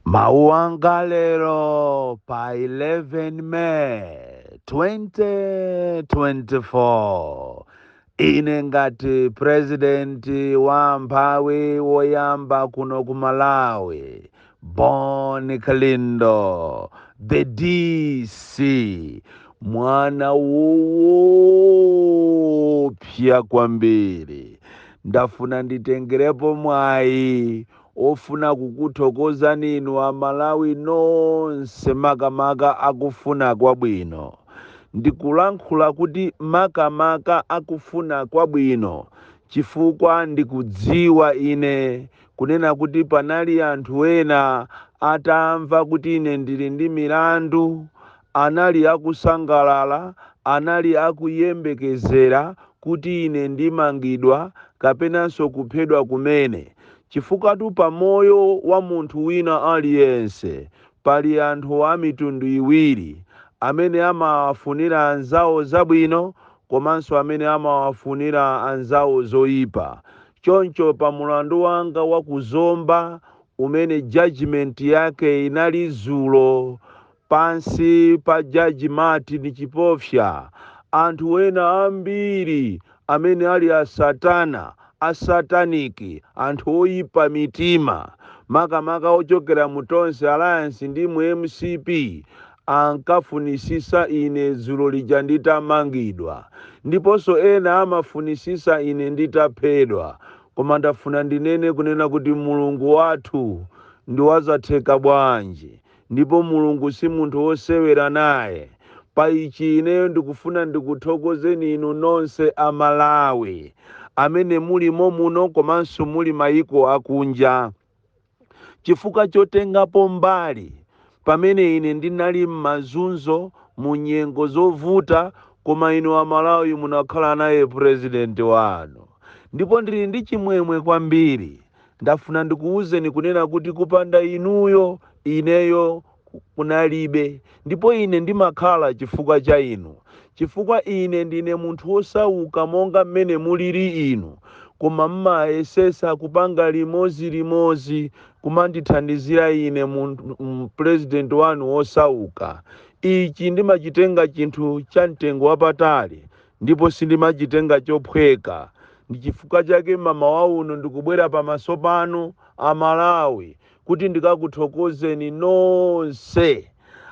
Mawu anga lero pa 11 May 2024 ine ngati purezidenti wa amphawi woyamba kuno ku Malawi Bon Kalindo the DC mwana woopsa kwambiri Ndafuna nditengerepo mwayi ofuna kukuthokozani inu a Malawi nonse makamaka akufuna kwabwino. Ndikulankhula kuti makamaka akufuna kwabwino chifukwa ndikudziwa ine kunena kuti panali anthu ena atamva kuti ine ndili ndi milandu, anali akusangalala, anali akuyembekezera kuti ine ndimangidwa kapenanso kuphedwa kumene, chifukwatu pamoyo wa munthu wina aliyense pali anthu a mitundu iwiri, amene amawafunira anzawo zabwino komanso amene amawafunira anzawo zoipa. Choncho pa mulandu wanga wa ku Zomba umene judgement yake inali dzulo pansi pa Judge Martin Chipofya, anthu wena ambiri amene ali a satana, a satanic, anthu oyipa mitima, makamaka ochokera mu Tonse Alliance ndi mu mcp ankafunitsitsa ine dzulo lija nditamangidwa, ndiponso ena amafunitsitsa ine nditaphedwa, koma ndafuna ndinene kunena kuti Mulungu wathu ndi wazatheka bwanji, ndipo Mulungu si munthu wosewera naye. Pa ichi ineyo ndikufuna ndikuthokozeni inu nonse a Malawi amene muli mommuno komanso muli mayiko akunja. chifukwa chotengapo mbali pamene ine ndinali m'mazunzo mu nyengo zovuta koma inu amalawi munakhala naye president wanu ndipo ndili ndi chimwemwe kwambiri ndafuna ndikuwuzeni kunena kuti kupanda inuyo ineyo kunalibe. Ndipo ine ndimakhala chifukwa cha inu, chifukwa ine ndine munthu wosauka monga mmene muliri inu, koma mmayesetsa kupanga limodzi limodzi kumandithandizira ine, purezidenti wanu wosauka. Ichi ndimachitenga chinthu cha mtengo wapatali, ndipo sindimachitenga chophweka. Ndi chifukwa chake mmamawa uno ndikubwera pamaso panu, a Malawi, kuti ndikakuthokozeni nonse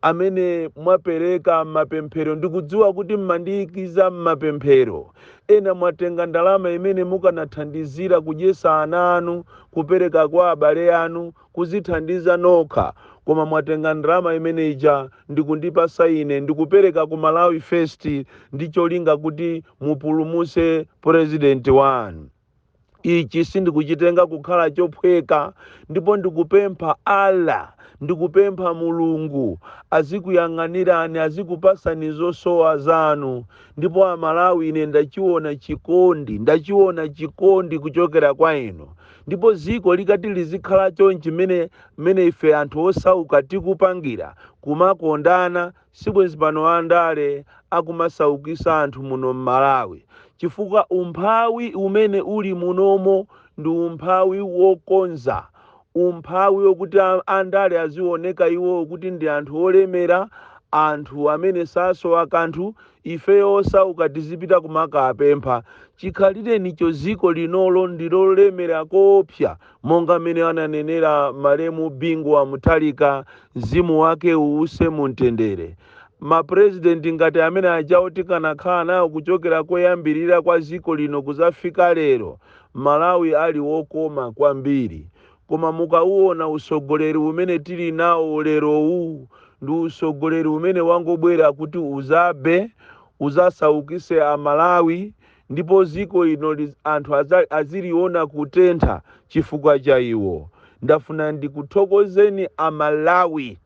amene mwapereka mapemphero ndikudziwa kuti mmandiyikiza mmapemphero ena mwatenga ndalama imene mukanathandizira kudyesa ana anu kupereka kwa abale anu kuzithandiza nokha koma mwatenga ndalama imene ija ndikundipasa ine ndikupereka ku malawi first ndi cholinga kuti mupulumuse purezidenti wanu Ichi sindikuchitenga kukhala chophweka ndipo ndikupempha Allah, ndikupempha Mulungu azikuyang'anirani azikupasani zosowa zanu ndipo a Malawi ine ndachiona chikondi, ndachiona chikondi kuchokera kwa inu ndipo dziko likati lizikhala chonchi mmene mmene ife anthu osauka tikupangira, kumakondana sibwenzi pano andale akumasaukisa anthu muno mmalawi chifukwa umphawi umene uli munomo ndi umphawi wokonza umphawi okuti andale azioneka iwo kuti ndi anthu olemera anthu amene sasowa kanthu ifeyo osauka tizipita kumakapempha chikhalirenicho ziko linolo ndilolemera koopsa monga mmene ananenera malemu bingu wa mutharika mzimu wake uwuse mu mtendere mapurezidenti ngati amene ajawo tikanakhala nawo kuchokera koyambirira kwa dziko lino kuzafika lero malawi ali wokoma kwambiri koma mukauona usogoleri umene tili nawo lerowu ndi usogoleri umene wangobwera kuti uzabe uzasaukise amalawi ndipo dziko ino liz, anthu aza, aziliona kutentha chifukwa cha iwo ndafuna ndikuthokozeni amalawi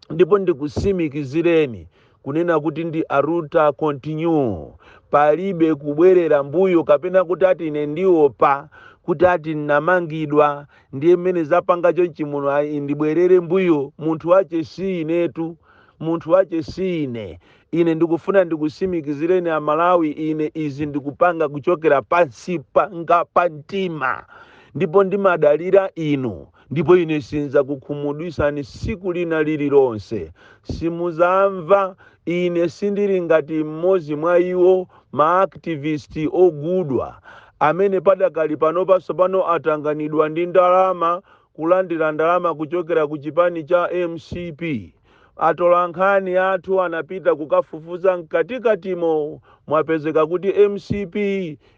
ndipo ndikusimikizireni kunena kuti ndi aluta continue palibe kubwerera mbuyo kapena kuti ati ine ndiopa kuti ati ndinamangidwa ndiye mmene zapanga chonchi muno ayi ndibwerere mbuyo munthu wache si inetu munthu wache si ine Ine ndikufuna ndikusimikizireni a Malawi ine izi ndikupanga kuchokera pansi panga pa mtima ndipo ndimadalira inu ndipo ine sinzakukhumudwisani siku lina lililonse simuzamva ine sindili ngati mmodzi mwa iwo ma activist ogudwa amene padakali panopa sopano atanganidwa ndi ndalama kulandira ndalama kuchokera ku chipani cha mcp. Atolankhani athu anapita kukafufuza mkatikatimo mwapezeka kuti mcp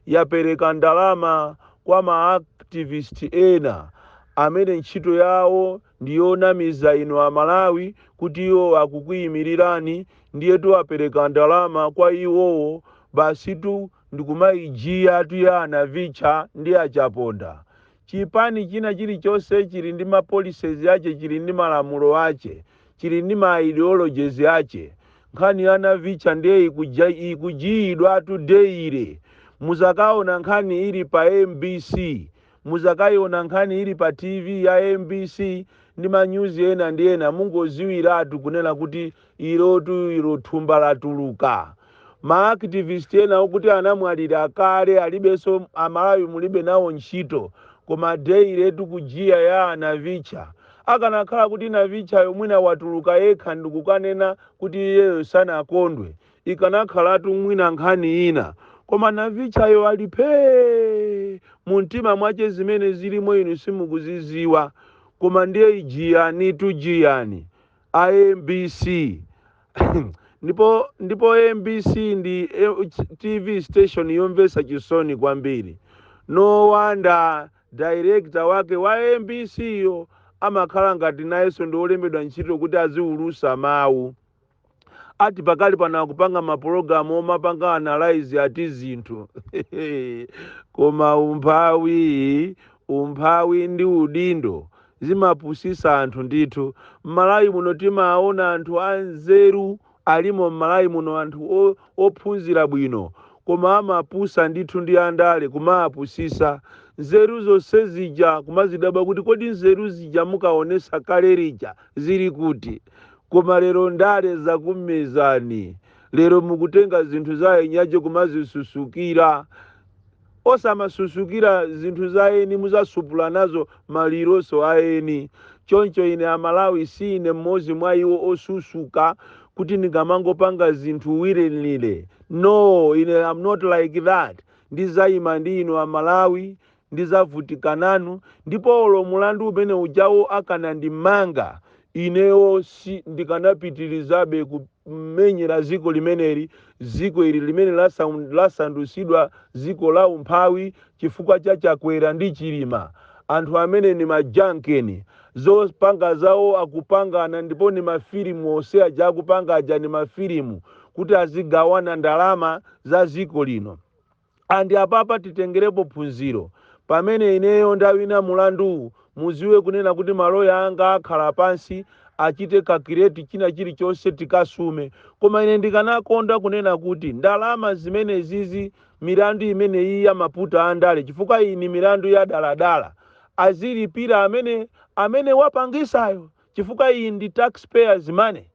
yapereka ndalama kwa ma activist ena amene ntchito yawo ndi yonamiza inu Amalawi kuti iwo akukuyimirirani ndiyetu apereka ndalama kwa iwowo basitu ndikumaijiyatu ya a Navicha ndi a Chaponda. Chipani china chilichonse chili ndi ma policies ache, chili ndi malamulo ache, chili ndi ma ideologies ache. Nkhani ya a Navicha ndiye ikuja, ikujiyidwatu daily. Muzakaona nkhani ili pa mbc, muzakaiona nkhani ili pa TV ya mbc ndi ma news ena ndi ena, mungoziwiratu kunena kuti Ilotu ilo thumba latuluka. Ma activist ena okuti anamwalira kale alibenso a Malawi mulibe nawo ntchito koma daily tu kujiya ya a Navicha. Akanakhala kuti Navichayo mwina watuluka yekha ndikukanena kuti iyeyo sanakondwe ikanakhalatu mwina nkhani ina koma Navichayo ali phee! Mumtima mwache zimene zilimo inu simukuziziwa koma ndiye ijiyanitu jiyani. a mbc ndipo ndipo mbc ndi eh, ch- tv station yomvetsa chisoni kwambiri no wonder director wake wa mbc yo amakhala ngati nayenso ndi olembedwa ntchito kuti aziwulusa mawu ati pakali pano akupanga mapulogalamu omapanga analyze ati zinthu koma umphawi umphawi ndi udindo Zimapusisa anthu ndithu. M'Malawi muno timaona anthu anzeru alimo m'Malawi muno anthu ophunzira bwino koma amapusa ndithu ndi andale kumawapusisa nzeru zonse zija kumazidabwa kuti kodi nzeru zija mukaonesa kale lija zili kuti koma lero ndale zakumezani lero mukutenga zinthu za eni ache kumazisusukira Osamasusukira zinthu za eni muzasupula nazo maliro nso a eni. Choncho ine a Malawi siine mmodzi mwa iwo osusuka kuti ndingamangopanga zinthu willy-nilly. No! Ine am not like that. Ndizaima ndi inu a Malawi, ndizavutika nanu ndipo olo mulandu umene ujawo akanandimanga, inewo si, ndikanapitilizabe ku. kumenyera dziko limeneli, dziko ili limene lasandutsidwa dziko la umphawi chifukwa cha Chakwera ndi Chilima. Anthu amene ni majankeni. Zopanga zawo akupangana ndipo ni mafilimu onse aja akupanga aja ni mafilimu kuti azigawana ndalama za dziko lino. And apapa titengerepo phunziro, pamene ineyo ndawina mulanduwu muziwe kunena kuti ma lawyer anga akhala pansi achite calculate china chilichonse tikasume. Koma ine ndikanakonda kunena kuti ndalama zimenezizi milandu imeneyiyi ya maputa andale chifukwa iyi ni milandu ya daladala azilipira amene amene wapangisayo chifukwa iyi ndi taxpayers money.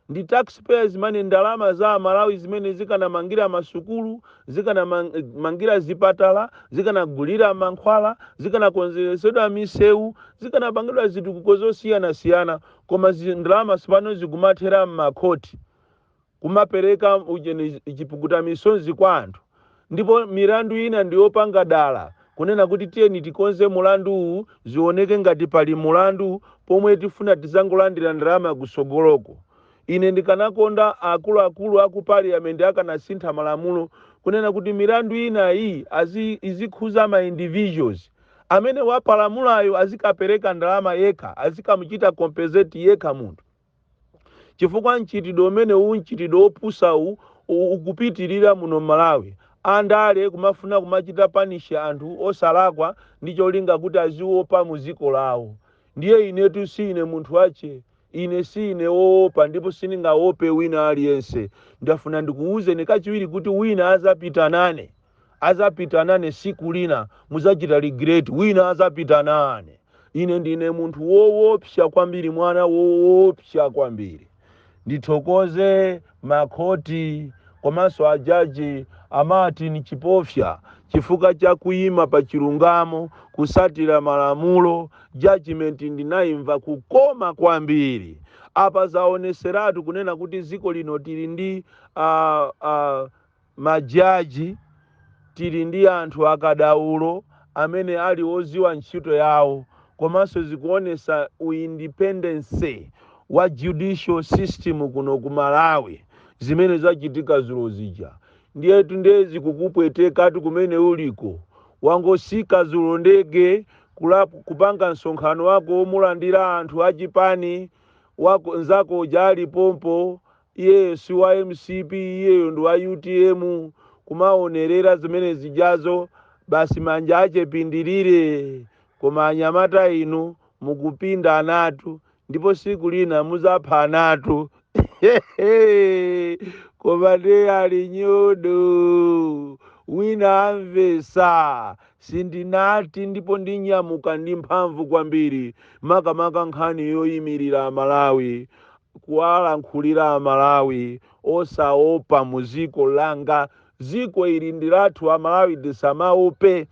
Ndi tax payers money, ndalama za amalawi zimene zikanamangira masukulu, zikanamangira zipatala, zikanagulira mankhwala, zikanakonzeretsedwa misewu, zikanapangidwa zitukuko zosiyanasiyana koma ndalama tsopano zikumathera m'makhoti kumapereka chipukuta misozi kwa anthu. ndipo milandu ina ndi yopanga dala kunena kuti tiyeni tikonze mulandu uwu zioneke ngati pali mulandu pomwe tifuna tizangolandira ndalama kusogoloko. Ine ndikanakonda akuluakulu aku parliament akanasintha malamulo kunena kuti milandu ina iyi izikhuza ma individuals amene wapalamulayo azikapereka ndalama yekha azikamuchita compensate yekha munthu. chifukwa mchitidwe umenewu mchitidwe opusawu ukupitilira muno mmalawi andale kumafuna kumawachita punish anthu osalakwa ndicholinga kuti aziopa muziko lawo ndiye inetu siine munthu wache ine siine oopa ndipo sindingaope wina aliyense ndafuna ndikuuzeni kachiwiri kuti wina azapita nane Adzapita nane tsiku lina, mudzachita regret, wina adzapita nane. Ine ndine munthu woopsa kwambiri, mwana woopsa kwambiri. Ndithokoze ma khoti komanso a judge a Martin Chipofya chifukwa cha kuima pa chilungamo, kutsatira malamulo, judgement ndinaimva kukoma kwambiri. Apa zaonetseratu kunena kuti dziko lino tili ndi a, a, Majaji, Tili ndi anthu akadaulo amene ali oziwa ntchito yawo komanso zikuonesa u independence wa judicial system kuno ku Malawi zimene zachitika zulo zija ndiyetu nde zikukupwetekatu kumene uliko wangosika zulo ndege kupanga msonkhano wako womalandira anthu achipani nzako uja ali pompo Iye si wa mcp iyeyo ndi wa utm kumaonerera zimene zijazo basi manja ache pindilire koma anyamata inu mukupinda anatu ndipo siku lina muzapha anatu koma nde ali nyodo wina amvesa sindinati ndipo ndinyamuka ndi mphamvu kwambiri makamaka nkhani yoyimirira amalawi kuwalankhulira amalawi osaopa muziko langa ziko ili ndilathu amalawi tisamaope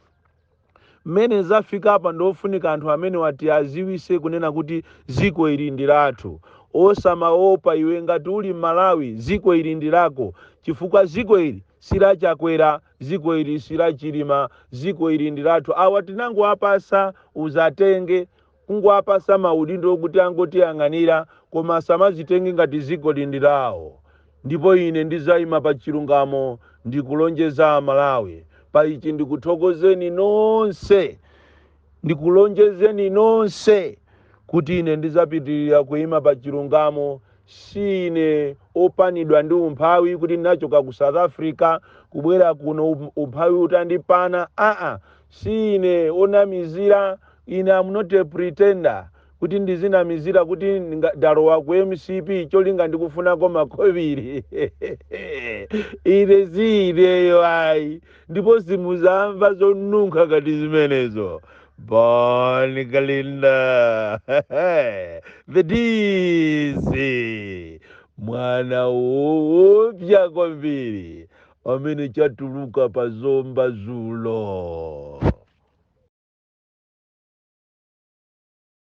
mmene zafikapa ndiofunika anthu amenewa tiaziwise kunena kuti ziko ili ndilathu osamaopa iwe ngati uli mmalawi ziko ili ndilako chifukwa ziko ili si la Chakwera ziko ili si la Chilima ziko ili ndilathu awa tinangowapasa udzatenge kungowapasa maudindo kuti angotiyang'anira koma asamazitenge ngati dziko ili ndi lawo ndipo ine ndizaima pa chilungamo ndikulonjeza amalawi pa ichi ndikuthokozeni nonse ndikulonjezeni nonse kuti ine ndizapitilira kuima pa chilungamo siine opanidwa ndi umphawi kuti ndinachoka ku south africa kubwera kuno um- umphawi utandipana aa Siine onamizira, ine am not a pretender kuti ndizinamizira kuti nga- ndalowa ku mcp cholinga ndikufunako makobiri ine siineyo ayi ndipo simuzamva zonunkha ngati zimenezo bon kalindo the dc mwana oopsya kwambiri pamene chatuluka pa zomba zulo.